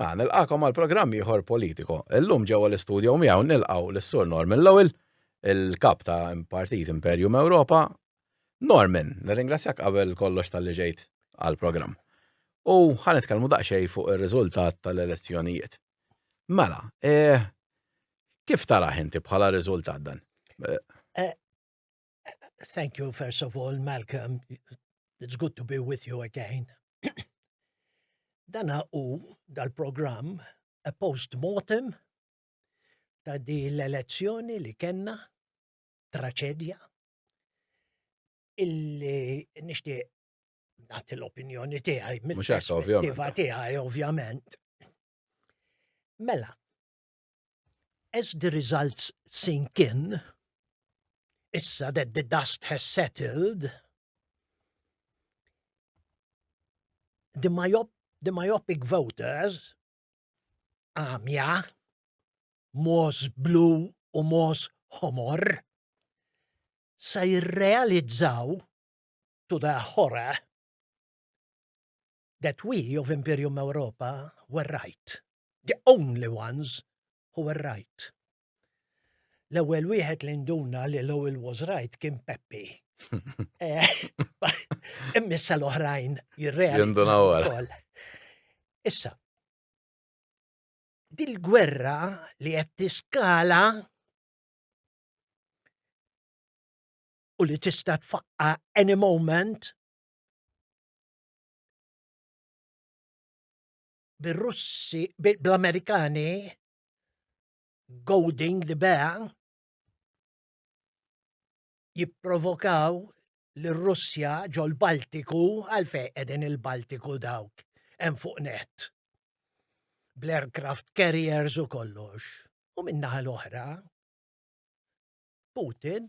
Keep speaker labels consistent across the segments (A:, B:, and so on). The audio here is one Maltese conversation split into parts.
A: Ma nilqakom għal programm ieħor politiko. Illum ġewwa l-istudju miegħu nilqgħu lis-Sur Norman Lowell, il-kap ta' Partit Imperium Ewropa. Norman, nirringrazzjak qabel kollox tal-li ġejt għall-programm. U ħa nitkellmu daqsxejn fuq ir-riżultat tal-elezzjonijiet. Mela, eh, kif taraħ inti bħala riżultat dan? Eh,
B: Thank you, first of all, Malcolm. It's good to be with you again. Dana u dal-programm a post-mortem ta' di l-elezzjoni li kenna traċedja illi nishti nagħti l-opinjoni tiegħi mill-perspettiva tiegħi ovvjament. Mela, As the results sink in, issa that the dust has settled, the, myop, the myopic voters, għamja, mos blu u mos homor, sa jirrealizzaw to the horror that we of Imperium Europa were right, the only ones who were right. L-ewwel wieħed li nduna li Lowell was right kien Peppi. Eh, immissa l-oħrajn jirrealizzaw. Issa, dil-gwerra li qed tiskala u li tista' tfaqqa any moment bir-Russi, bl-Amerikani, Golding li beha, jipprovokaw l-Russja ġol Baltiku għalfej edin il-Baltiku dawk hemm fuq net. Bl-aircraft carriers u kollox. U minnaħa l-oħra, Putin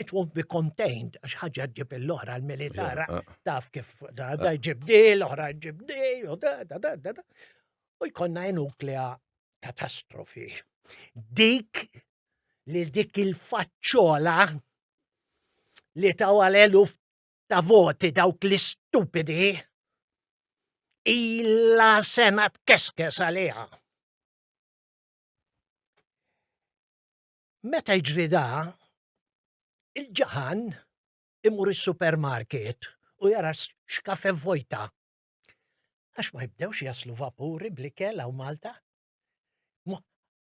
B: it won't be contained, għax ħagġa ġib l-oħra l-militar, eh. taf kif da eh. ġib di, l-oħra ġib di, u da da da da da. U jkonna nuklea katastrofi. Dik li dik il-faċċola li taw għal ta' voti dawk li stupidi illa sena tkeskes għaliha. Meta jiġri da, il-ġaħan imur is-supermarket u jara xkafe vojta. Għax ma jibdewx jaslu vapuri bl-ikel għaw Malta?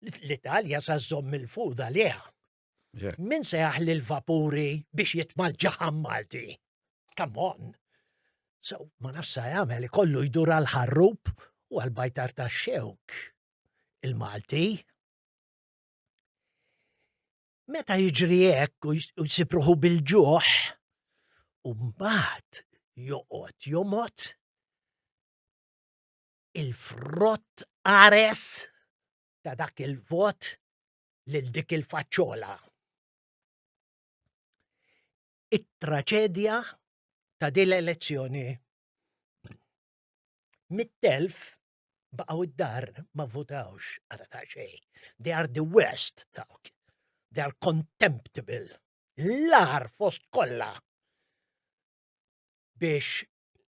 B: L-Italja sa żomm il-fuda liha. Min se jaħli l-vapuri biex jitmal ġaħan Malti? Come on! So, ma nafsa jagħmel ikollu jdur għal ħarrub u għal bajtar ta' xewk. Il-Malti. Meta jiġri hekk u jsib ruħu bil-ġuħ, u mbagħad joqgħod jomgħod il-frott ares ta' dak il-vot lil dik il-faċċola. It-traċedja ta' din l-elezzjoni mit-telf baqgħu d-dar ma votawx għada ta' xej. They are the worst dawk. They are contemptible. L-ar fost kollha biex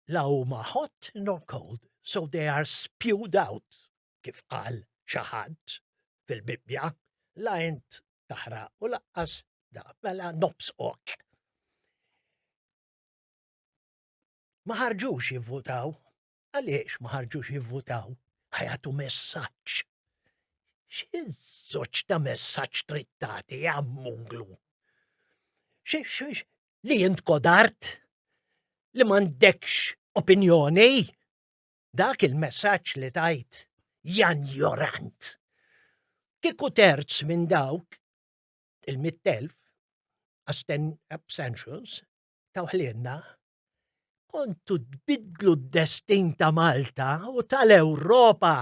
B: la huma hot nor cold, so they are spewed out, kif qal xaħat fil-Bibbja, la int taħra u laqqas da, mela nobs ok. Ma ħarġux jivvutaw Għaliex ma ħarġux jivvutaw? Ħajatu messaġġ. Xi żoċ ta' messaġġ trid tagħti għammunglu? Li jint kodart? Li m'għandekx opinjoni? Dak il-messaġġ li tajt jan jorant. Kiku terz minn dawk il-mittelf abstentions tawħlienna kontu tbidlu d-destin ta' Malta u tal-Ewropa.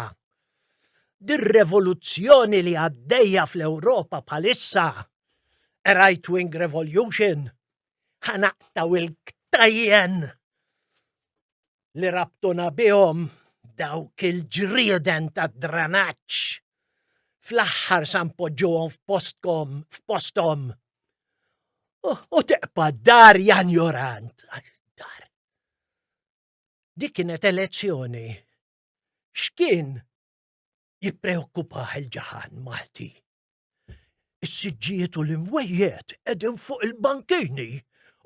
B: Dir-revoluzzjoni li għaddejja fl-Ewropa bħalissa, a right-wing revolution, ħanaqtaw il-ktajjen li rabtuna bihom dawk il-ġrieden tad-dranaġġ. Fl-aħħar san poġġuhom f'postkom, f'postom, U teqpa dar Jan Jorant. Dar. Dik kienet elezzjoni. X'kien jippreokkupah il-ġaħan Malti? Is-siġġijiet u l-imwejjed qegħdin fuq il-bankini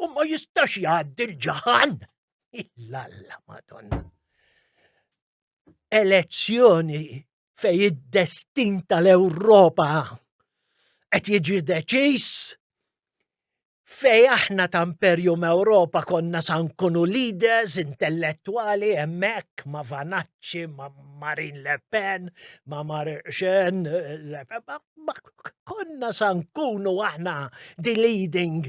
B: u ma jistax jgħaddi l-ġaħan. Illalla, madonna. Elezzjoni fej id-destin tal-Ewropa qed jiġi deċiż fej aħna ta' Imperium Ewropa konna sa nkunu leaders intellettwali hemmhekk ma' Vanacci, ma' Marine Le Pen, ma' Marxen, konna sa nkunu aħna the leading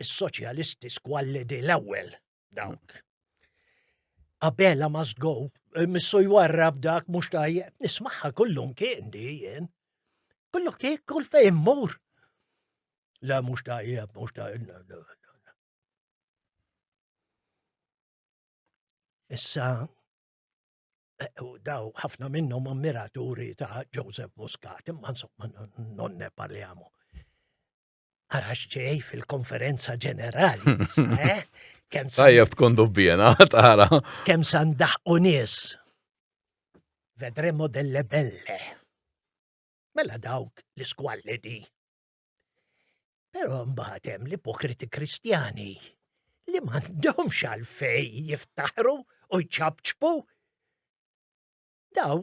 B: is-soċjalisti squallidi l-ewwel dawk. Abela must go, eh, missu jwarrab dak mhux tajjeb, nismaħħa kullum kien di jien. Kullu kien kull fejn mur. La mhux tajjeb, mhux tajjeb. Issa eh, daw ħafna minnhom ammiraturi ta' Joseph Muscat, imma insomma nonne parliamo. Ara x'ġej fil-konferenza ġenerali, eh? Kem
A: Tajjeb tkun dubbjena, tara. Kem san
B: daħqu nies. Vedremo delle belle. Mela dawk li skwalli di. Pero mbagħad hemm l-ipokriti kristjani li m'għandhomx għalfej jiftaħru u jċabċbu. Daw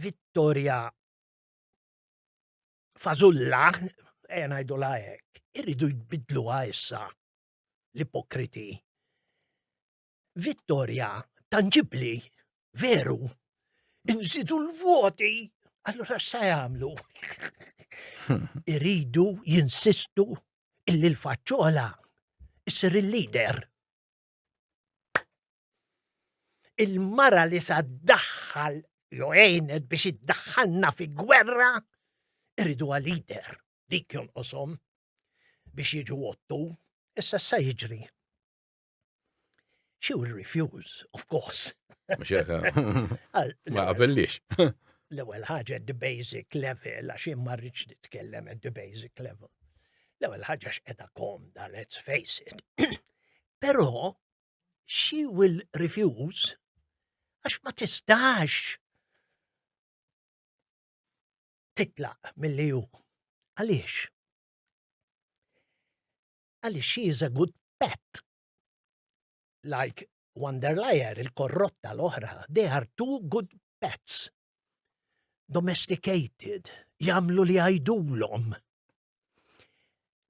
B: vittorja fazulla, ejja ngħidu lajek, irridu jbidluha issa l-ipokriti. Vittorja tangibli, veru, nżidu l-voti, allora sa jagħmlu. Iridu jinsistu illi l-faċċola issir il-lider. Il-mara li sa daħħal jew għenet biex iddaħħalna fi gwerra irridu għal-lider dik jonqosom biex jiġu għottu, issa sa jiġri. She will refuse, of course. Mxeka.
A: Ma għabellix. L-ewel
B: ħagġa the basic level, għax imma rridx nitkellem at the basic level. L-ewel ħagġa x'qeda komda, let's face it. Però she will refuse għax ma tistax titlaq mill-li ju. Għaliex? Għaliex she is a good pet. Like Wanderlajer, il-korrotta l-oħra, they are two good pets. domesticated, jamlu li għajdulom.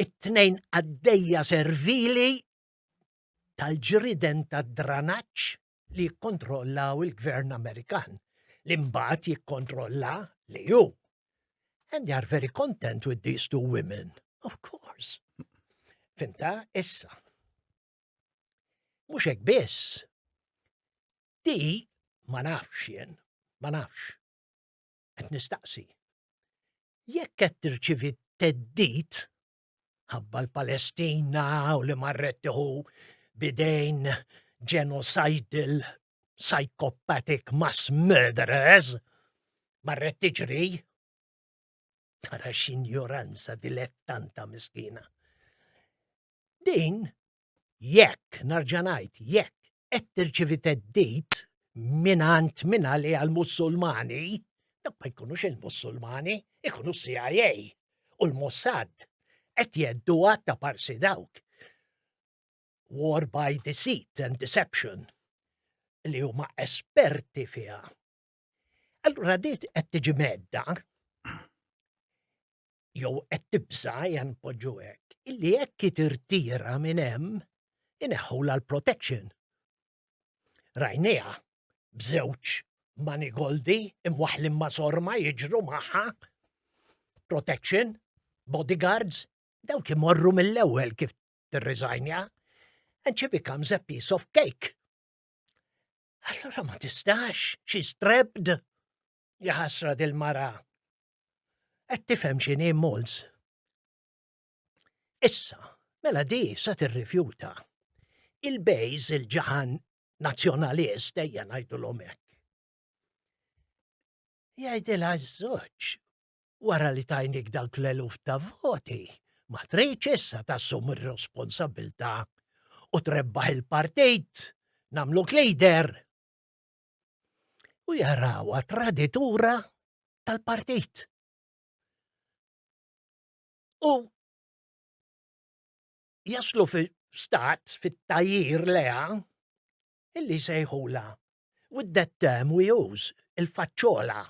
B: It-tnejn għaddejja servili tal-ġriden ta' dranaċ li kontrollaw il-gvern Amerikan li mbagħad jikkontrolla li ju. And they are very content with these two women, of course. Fimta, issa. Mhux hekk biss. Di ma nafx jien, ma nafx. Qed nistaqsi. Jekk qed tirċivi teddit ħabba l-Palestina u li marret tiħu bidejn genocidal psychopathic mass murderers, marret tiġri. Tara x'injoranza dilettanta miskina. Din, jekk, narġa' ngħid, jekk qed tirċievi theddid mingħand min għaliha l-Mussulmani, dawk ma jkunux il-Mussulmani, ikunu CIA u l-Mossad qed jedduha ta' parsi dawk. War by deceit and deception li huma esperti fiha. Allura dit qed tiġi medda jew qed tibża jan poġġu hekk, illi hekk tirtira minn hemm ineħħula l-protection. Rajnija bżewġ mani goldi imwaħlim ma' sorma jiġru magħha protection, bodyguards, dawk imorru mill-ewwel kif tirriżajnja and she becomes a piece of cake. Allura ma tistax, she's trapped. Jaħasra dil-mara. Qed tifhem x'inhi Mols. Issa, mela di sa tirrifjuta. Il-bejż il-ġaħan nazzjonalist ejja ngħidu l-omek. Jgħidilha ż-żewġ, wara li tajnik dawk l-eluf ta' voti, ma tridx issa tassum ir-responsabilità u trebbaħ il-partit nagħmluk leader. U jarawha traditura tal-partit. U jaslu fi stat fit-tajjir leha illi jsejħulha with that term we use, il-faċċola,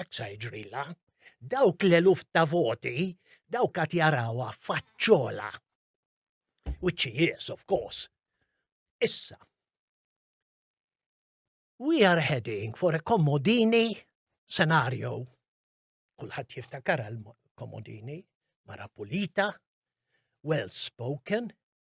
B: hekk sa jiġrilha, dawk l-eluf ta' voti, dawk qed jarawha faċċola. Which he is, of course. Issa. We are heading for a commodini scenario. Kulħadd jiftakar għal commodini mara pulita, well spoken,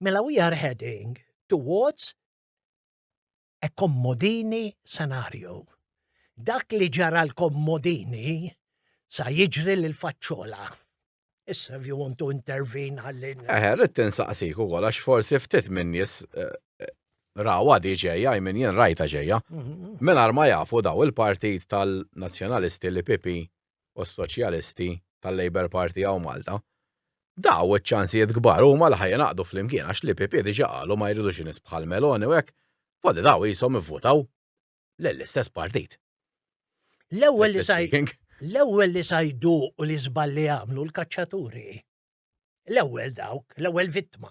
B: Mela we are heading towards a kommodini scenario. Dak li ġara l-kommodini sa jiġri l faċċola. Issa if you want to intervene għallin. Eħe, rrit tinsaqsik
A: u għol, għax forsi ftit minn nis eh, eh, rawa di ġeja, jmin jen rajta ġeja. Mhm. Mela ma jafu daw il-partit tal-nazjonalisti li pipi u s-Soċjalisti tal-Labour Party hawn Malta, daw iċ-ċansijiet kbar huma li ħa jingħaqdu flimkien għax l-EPP diġa qalu ma jridux nies bħal Meloni u hekk, f'għodu daw qishom ivvutaw lill-istess partit. L-ewwel li sa
B: l-ewwel li sa jduqu li żball li għamlu l-kaċċaturi. L-ewwel dawk, l-ewwel vittma.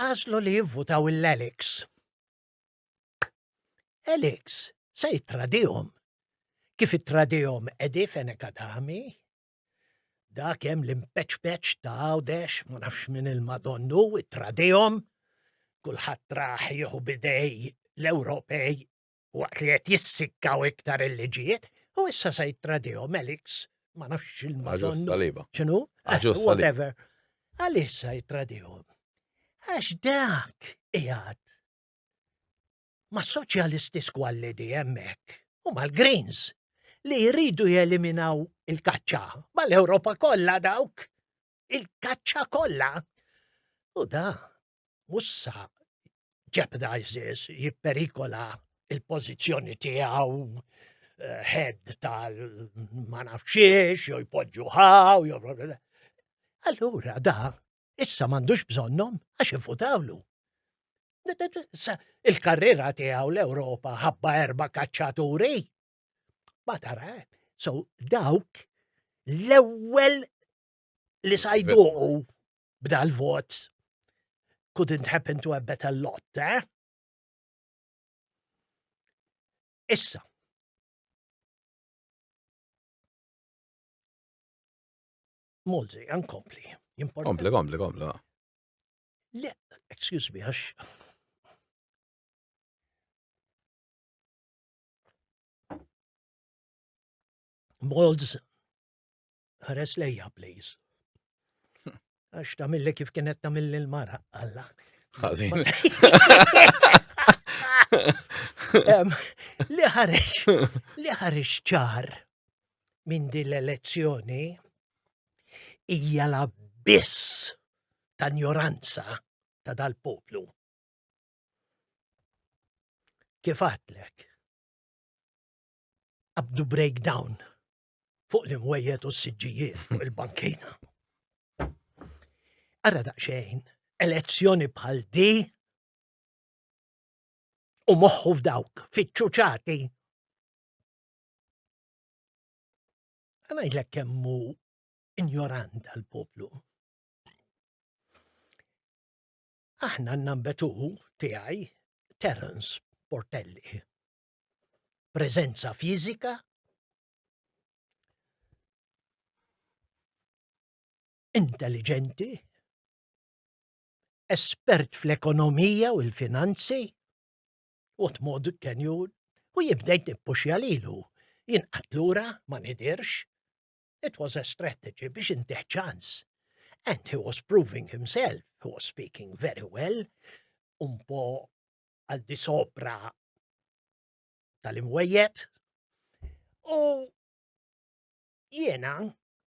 B: Għażlu li jivvutaw il-Alex. Alex se jittradihom. Kif ittradihom Edi Fenek Adami, dak hemm l-impeċpeċ ta' għawdex, ma nafx minn il-Madonnu, it-tradihom, kulħadd raħ jieħu bidej l-Ewropej waqt li qed jissikkaw iktar il-liġijiet, u issa se jittradihom Elix, ma nafx il-madon. Saliba. X'inhu? Ah, eh, whatever. Għaliex se jittradihom? Għax dak qiegħed ma' soċjalisti skwallidi hemmhekk u mal-Greens li jridu jeliminaw il-kaċċa mal-Ewropa kollha dawk il-kaċċa kollha. U da mussa jeopardizes, jipperikola il-pozizjoni tiegħu eh, head tal ma nafxiex, jew jpoġġu ħaw, jew Allura da, issa m'għandux bżonnhom għax ifutawlu. Il-karriera tiegħu l-Ewropa ħabba erba' kaċċaturi. Ma tara, eh? so dawk l-ewwel li sa jduqu b'dal vot couldn't happen to a better lot, eh? Issa. Multi, ankompli. Kompli, kompli,
A: kompli.
B: Le, excuse me, għax. Molds Ħares lejja, please. Għax ta' mill kif kienet ta' mill l-mara, għalla. Għazin. Li ħares, li ħares ċar minn din l-elezzjoni hija la biss ta' njoranza ta' dal-poplu. Kif għatlek? Abdu breakdown fuq l-imwejjed u s-siġġijiet fuq il-bankina. Ara daqxejn, elezzjoni bħal di u moħħu f'dawk, fiċċuċati. Għana jlek kemmu ignorant għal-poplu. Aħna n-nambetu tiegħi Terence Portelli. preżenza fiżika, intelligenti, espert fl-ekonomija u l-finanzi, u t-mod kenju u jibdejt nippuxja lilu. Jien għatlura ma nidirx, it was a strategy biex intiħ ċans. And he was proving himself, he was speaking very well, un po għal di sopra tal-imwejjed u jiena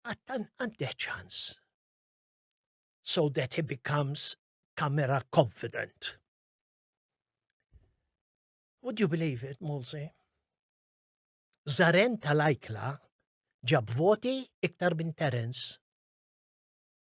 B: għattan għandih ċans so that he becomes camera confident. Would you believe it, Mulsi? Zaren tal-Ajkla ġab voti iktar minn Terence.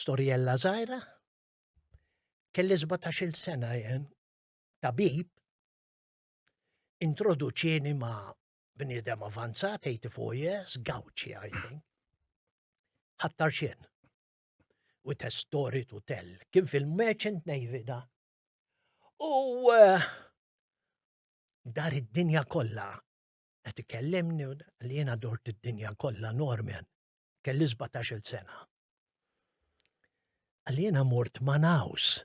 B: Storjella żgħira, kelli 17-il sena jen, tabib, introduċieni ma' bniedem avanzat 84 years, gawċi I think. Ħattar xien. U testori tu tell. Kien fil-Merchant Navy da. U eh, dar id-dinja kollha qed ikellimni li jiena dort id-dinja kollha Norman. kelli 17-il sena. Għalli jena mort Manaus,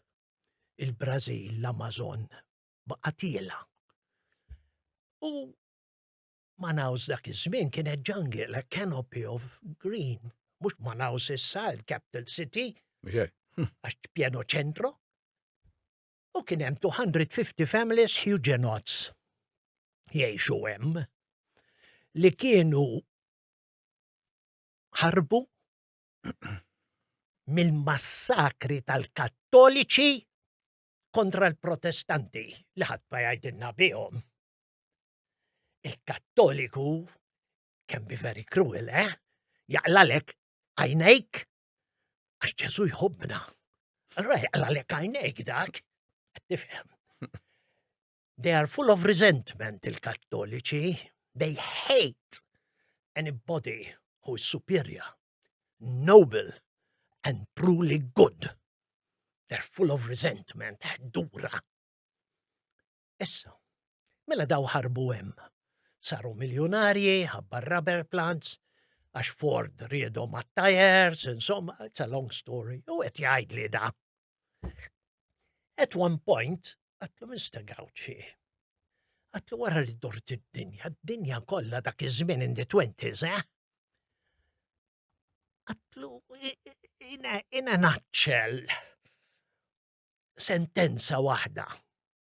B: il-Brazil, l-Amazon, baqatila. U Manaus dak iż-żmien kienet ġangil, a canopy of green. Mux Manaus issa, il-capital city. Għax pieno ċentro. U kien hemm 250 families Huguenots jgħixu hemm li kienu ħarbu mill-massakri tal-Kattoliċi kontra l-Protestanti li ħadd ma jgħidilna bihom. Il-Kattoliku can be very cruel, eh? Jaqlalek għajnejk għax Ġesu jħobbna. Allora jaqlalek għajnejk dak, tifhem. They are full of resentment il-Kattoliċi. They hate anybody who is superior, noble and truly good. They're full of resentment, dura. Issa, mela daw ħarbu hemm. Saru miljonarji, ħabbar rubber plants, għax Ford riedu ma' tires, insomma, it's a long story, u qed jgħid li da. At one point, għatlu Mr. Gauci, għatlu wara li dort id-dinja, d-dinja kollha dak iż-żmien in the twenties, eh? Għatlu, ina naċċel sentenza waħda.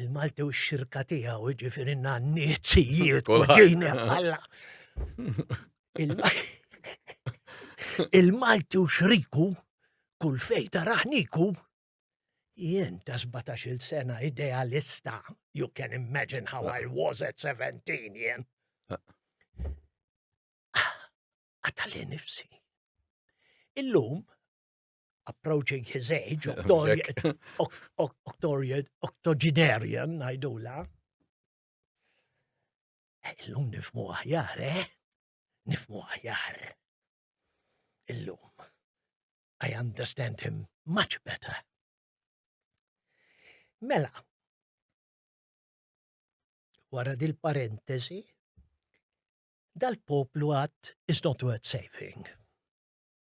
B: Il-Malti u x-xirka tiegħu jiġifieri n-nannizijiet u ġejni għalla. Il-Malti u xriku kull fej taraħniku jien ta' 17 sena idealista, you can imagine how I was at 17 jien. Għata li nifsi. Illum, approaching his age, octogenarian, najdula. Eh, illum nifmu aħjar, eh? Nifmu aħjar. Illum. I understand him much better. Mela, wara dil parentesi dal-poplu għat is not worth saving.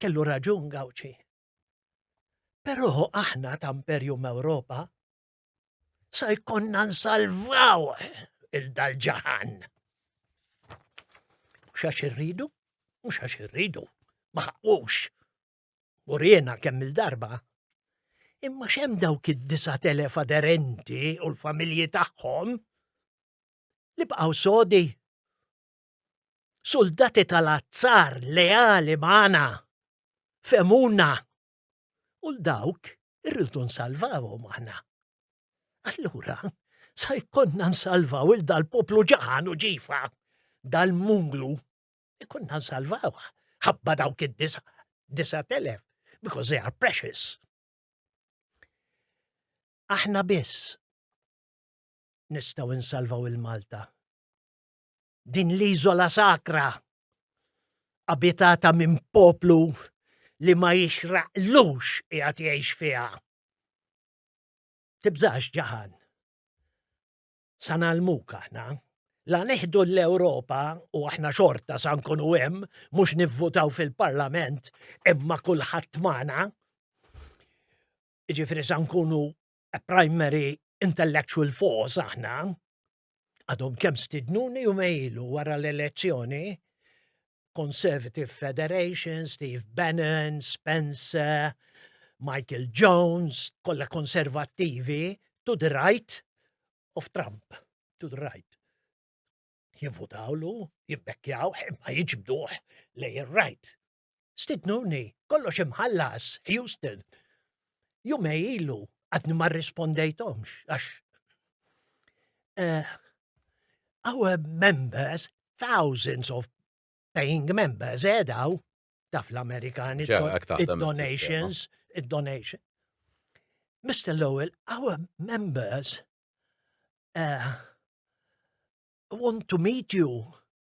B: Kellu raġun Gawċi. Però aħna ta' Imperium Ewropa sa jkonna nsalvaw il-dal-ġahan. Xax irridu? Mux għax irridu, maħqux. U rjena kemm il-darba. Imma xem dawk id-disa telef aderenti u l-familji tagħhom li bqaw sodi Suldati tal-azzar leali magħna. Femuna. U l-dawk irridu nsalvawhom aħna. Allura, sa jkollna nsalvaw il dal-poplu ġaħan u ġifa, dal-munglu, ikonna nsalvawha ħabba dawk id-disa telef, because they are precious. Aħna biss nistaw insalvaw il-Malta. din l-iżola sakra abitata minn poplu li ma jixraqlux qiegħed jgħix fiha. Tibżax ġaħan. Sa nagħlmuk aħna la neħdu l-Ewropa u aħna xorta sa nkunu hemm mhux nivvutaw fil-Parlament imma kulħadd magħna. Ġifieri sa nkunu a primary intellectual force aħna għadhom kemm stidnuni u mejlu wara l-elezzjoni, Conservative Federation, Steve Bannon, Spencer, Michael Jones, kollha konservattivi, to the right of Trump, to the right. Jivvutawlu, jibbekkjaw, ma jiġbduħ lej il-right. Stidnuni, kollox imħallas, Houston. Jumej ilu, għadni ma rispondejtomx, għax. Uh, our members, thousands of paying members, edaw, eh, taf l-Amerikani, donations, donation. Mr. Lowell, our members uh, want to meet you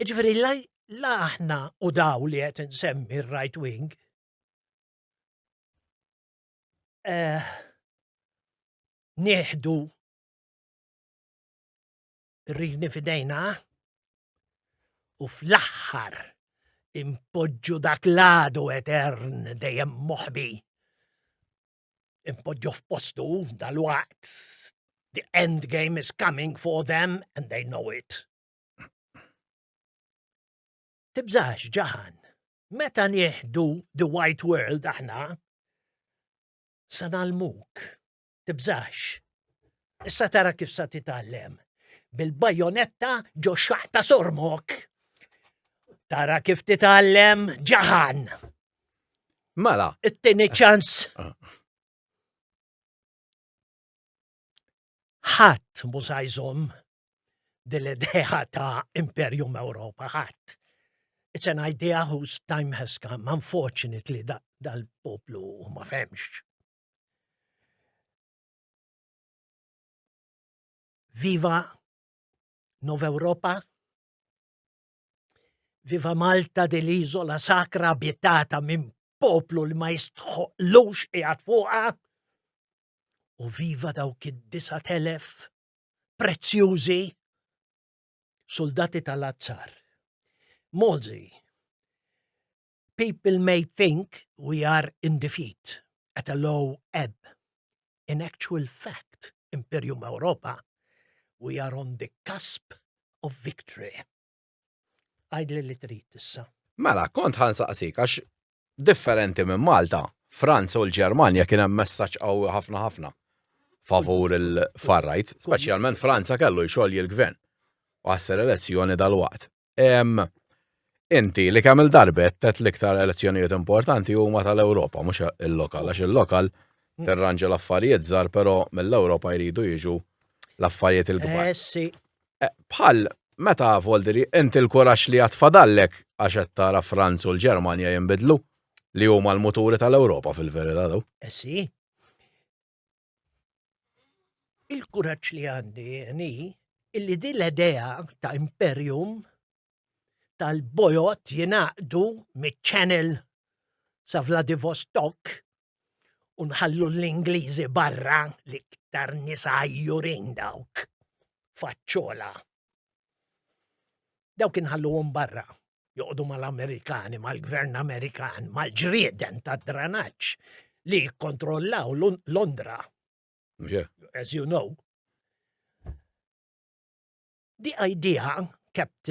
B: Ġifieri la aħna u daw li qed insemmi r-right wing eh, nieħdu rrini fidejna u fl-aħħar impoġġu dak l-għadu etern dejjem moħbi impoġġu f'postu dal-waqt. The end game is coming for them and they know it. Tibżax ġahan, meta nieħdu the white world aħna, sa nalmuk, tibżax. Issa tara kif sa titgħallem bil-bajonetta ġo xaqta sormok. Tara kif titgħallem ġahan.
A: Mela. It-tieni eh.
B: ċans. Ah. Ħadd mużajżom dil-idea ta' Imperium Ewropa ħadd. It's an idea whose time has come, unfortunately, dal-poplu ma femx. Viva Nova Europa, Viva Malta di l-iżola sakra abitata minn poplu li ma jistħoqlux qiegħed fuqha. U viva dawk id-disa telef prezzjużi soldati tal-azzar. Mozi, People may think we are in defeat, at a low ebb. In actual fact, Imperium Europa, we are on the cusp of victory. Għajdli li trid issa. Mela, kont ħan
A: saqsik, għax differenti minn Malta, Franza u l-Ġermanja kien hemm messaġġ qawwi ħafna ħafna favur il-farrajt, speċjalment Franza kellu jxogħol il-gvern u għasser elezzjoni dal-waqt. Inti li kemm il-darbet tet l-iktar elezzjonijiet importanti huma tal-Ewropa, mhux il-lokal, għax il-lokal mm. terranġa l-affarijiet żgħar, però mill-Ewropa jridu jiġu l-affarijiet il-kbar. Eh, eh, bħal meta Volderi, inti l-kurax li għatfadallek għax qed tara Franz u l-Ġermanja jinbidlu li huma l-muturi tal-Ewropa fil-verità daw. Eh, si.
B: il-kuraġġ li għandi ni illi din l-idea ta' imperium tal-bojot jinaqdu mit-channel sa' Vladivostok u nħallu l-Ingliżi barra li ktar nisa jurin dawk faċċola Dawk inħalluhom barra joqogħdu mal-Amerikani, mal-Gvern Amerikan, mal-ġrieden tad-dranaġġ li jikkontrollaw Londra. As you know. Di idea kept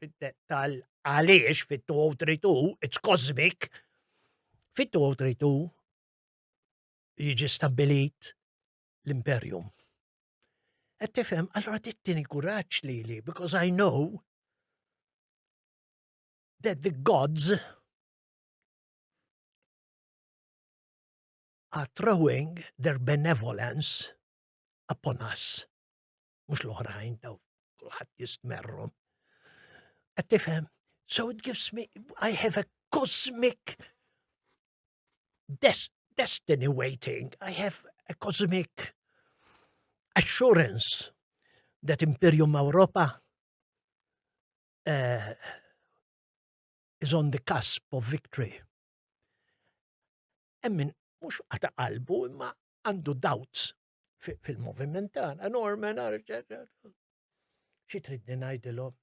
B: fid-dettall għaliex fit-2032, it's cosmic, fit-2032 jiġi stabbilit l-imperium. Et tifhem, allora tittini kuraġġ li li, because I know that the gods are throwing their benevolence upon us. mhux l-oħrajn daw kulħadd jistmerhom. Qed tifhem? So it gives me I have a cosmic des destiny waiting. I have a cosmic assurance that Imperium Europa uh, is on the cusp of victory. Emmin, mux għata qalbu, imma għandu doubts fil-moviment tagħna, Norman, xi tridni ngħidilhom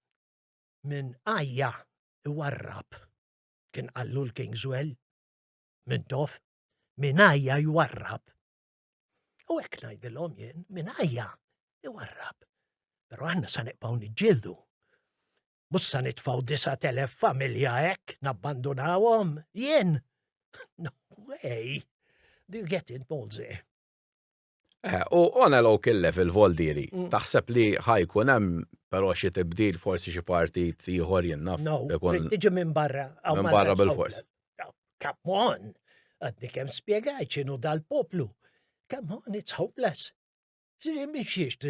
B: minn ajja iwarrab kien qallu l-Kingswell minn tof minn ajja jwarrab. U hekk ngħidilhom jien minn ajja iwarrab. Però aħna sa neqpaw niġġieldu. Mhux sa nitfgħu disa' telef familja hekk nabbandunawhom jien. No way. Do you get it, Molzi?
A: Eh, u on a local level voldiri, mm. taħseb li ħajkun hemm però xi tibdil forsi xi partit ieħor jinnaf. No, tiġi
B: minn barra. Minn barra bil-fors.
A: Come
B: on! Għaddi kem spiegaj ċinu dal-poplu. Come on, it's hopeless. Miexiex,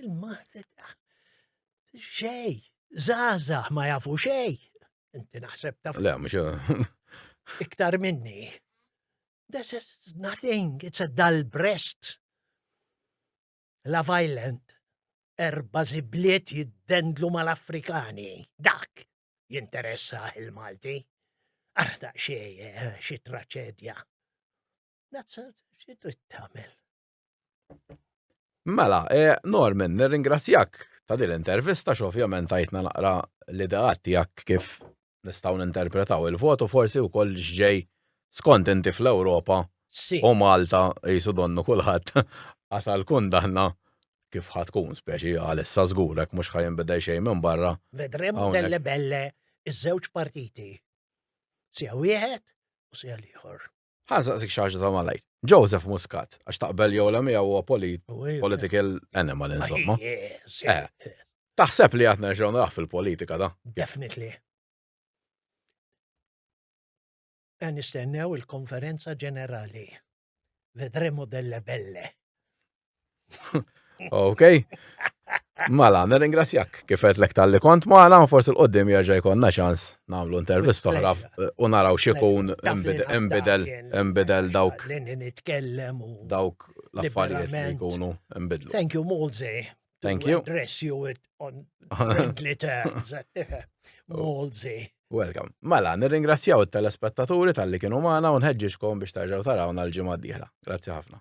B: il-ma, xej, zaza, ma jafu xej. Inti naħseb taf. Le, mux.
A: Iktar
B: minni. This is nothing, it's a dull breast. La violent, erba zibliet jiddendlu mal-Afrikani, dak jinteressa il-Malti. Arda xie, eh, xie traċedja. That's a xie trid tagħmel.
A: Mela, e, Norman, nirringrazzjak ta' din l-intervista x'ovvjament tajtna naqra l-ideat tiegħek kif nistgħu ninterpretaw il-votu forsi wkoll x'ġej skont inti fl-Ewropa u Malta jisu donnu kulħadd għasal kundanna kif ħatkun speċi għalissa żgurek mhux ħajinbidel xejn minn barra. Vedremo delle
B: belle iż-żewġ partiti. Sija wieħed u sija l-ieħor. Ħa saqsik xi ħaġa
A: ta' malajr. Joseph Muscat, għax taqbel jew la miegħu huwa political animal insomma. Eh, taħseb li għad nerġgħu naraħ fil-politika da? Definitely.
B: Għan nistennew il-konferenza ġenerali. Vedremo delle belle.
A: Ok. Mela, nirringrazzjak kif qed lek tal-li kont magħna u forsi l-qoddim jerġa' jkollna ċans nagħmlu intervist oħra u naraw x'ikun imbidel imbidel dawk dawk l-affarijiet li jkunu imbidlu. Thank you Molze.
B: Thank you. Address
A: you it
B: on friendly terms. Molze. Welcome.
A: Mela, nirringrazzjaw it-telespettaturi tal-li kienu magħna u nħeġġiġkom biex tarġgħu tarawna l-ġimgħa d-dieħla. Grazzi ħafna.